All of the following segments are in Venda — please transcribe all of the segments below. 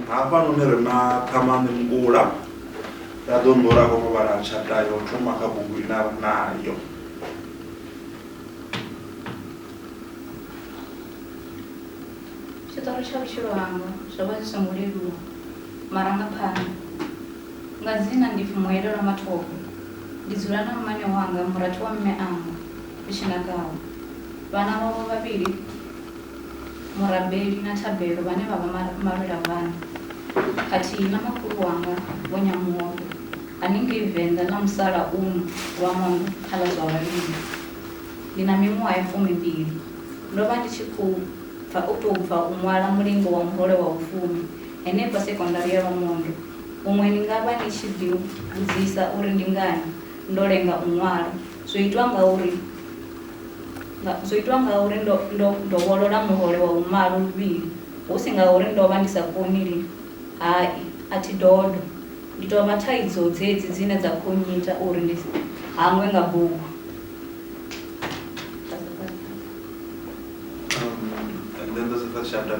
hafhanoni ri na ṱhamani mngula ra ḓo nḓora kho vhala tshata yo thoma kha bugu ine a ri nayo tshiṱori tsha vhutshilo hanga zwo vha zwi songo leluwa marangaphanḓa nga dzina ndi pfumuelelwa mathomo ndi dzula na mmane wanga murathu wa mme anga i tshi nakaho. Vhana vhawe vhavhili, Murabeli na Thabelo vhane vha vha malwelabana, khathihi na makhulu wanga Vho Nyamuhofhe haningei Venḓa ḽa musalauno Lwamondo kha ḽa zwa vhalimi. Ndi na miṅwaha ya fumimbili. Ndo vha ndi tshi khou bva u tou bva u ṅwala mulingo wa muhole wa vhufumi henefha sekondari ya Lwamondo. Huṅwe ni nga vha ni tshi ḓiu vhudzisa uri ndi ngani ndo lenga u ṅwala. Zwo itwa ngauri zwo itwa ngauri ndo ndo dovholola muhole wa vhumalo luvhili, hu si ngauri ndo vha ndi sa koni lini. Hai, a thi dodo. Ndi tou vha thaidzo dzedzi dzine dza khou nnyita uri ndi hangwe nga bugu. Um, and then there's the first chapter.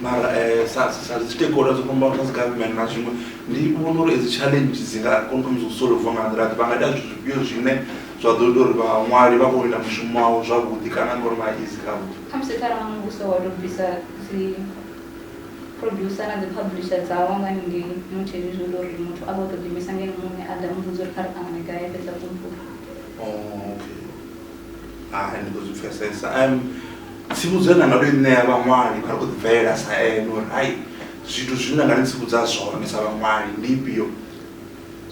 mara um sa dzi tekora dzo fhambana dzi government na zwiṅwe ndi vhona uri edzi challenge dzi nga kona thoma zwo solova nga nḓila vha nga ita zwithu zwifhio zwine zwa ḓo ita uri vhaṅwali vha kone u ita mushumo wavho zwavhuḓi kana nga uri vha izi kha vhuḓi kha musi kharali muvhuso wa tou bvisa dzi producer na dzi publisher dzawo nga ningei mutsheni zwi ita uri muthu a vha o to ḓiimisa ngene muṋe a ḓa muvhudza uri kha ri ṱangane gai fhedza kumpuka oh, okay hai ndi ḓo zwi pfesesa um tsivhudzo nda nga to i ṋea vhaṅwali vha ri khou ḓibvelela sa ene uri hai zwithu zwine nda nga ni tsivhudza zwone sa vhaṅwali ndi ifhio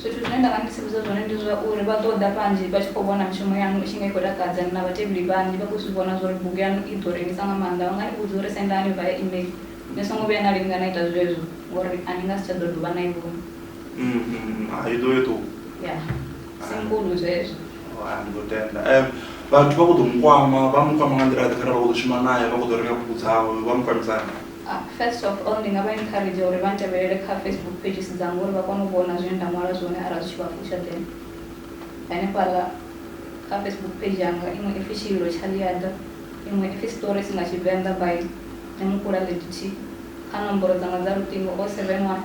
zwithu zwine nda nga ndi tsivhudza zwone ndi zwa uri vha ḓo ḓa vhanzhi vha tshi khou vhona mishumo yanu i tshi nga i khou takadza na vhatevheli vhanzhi vha khou zwi vhona zwa uri bugu yanu i ḓo rengisa nga maanḓa vha nga ni vhudza uri sendani vha ya email ni songo vhuya na linga na ita zwezwo ngori a ni nga si tsha ḓo dovha na i vhona Mm, mm, ah, i ḓo yo ṱuwa ya sinkulu zwezwo Oh, ah, ndi khou tenda Em, vhathu vha khou ḓo mu kwama vha mu kwama nga nḓila ḓe kharali vha khou ḓo shuma naye vha khou ḓo renga bugu dzawe vha mu kwamisana Ah, first of all ndi nga vha encourage uri vha ntevhelele kha facebook pages dzanga uri vha kone u vhona zwine nda ṅwala zwone arali zwi tshi vha fusha then hanefhaḽa kha facebook page yanga iṅwe ipfi tshililo tsha ḽiaḓa iṅwe ipfi stories nga tshivenḓa by nemukula lediti kha nomboro dzanga dza luṱingo o seven one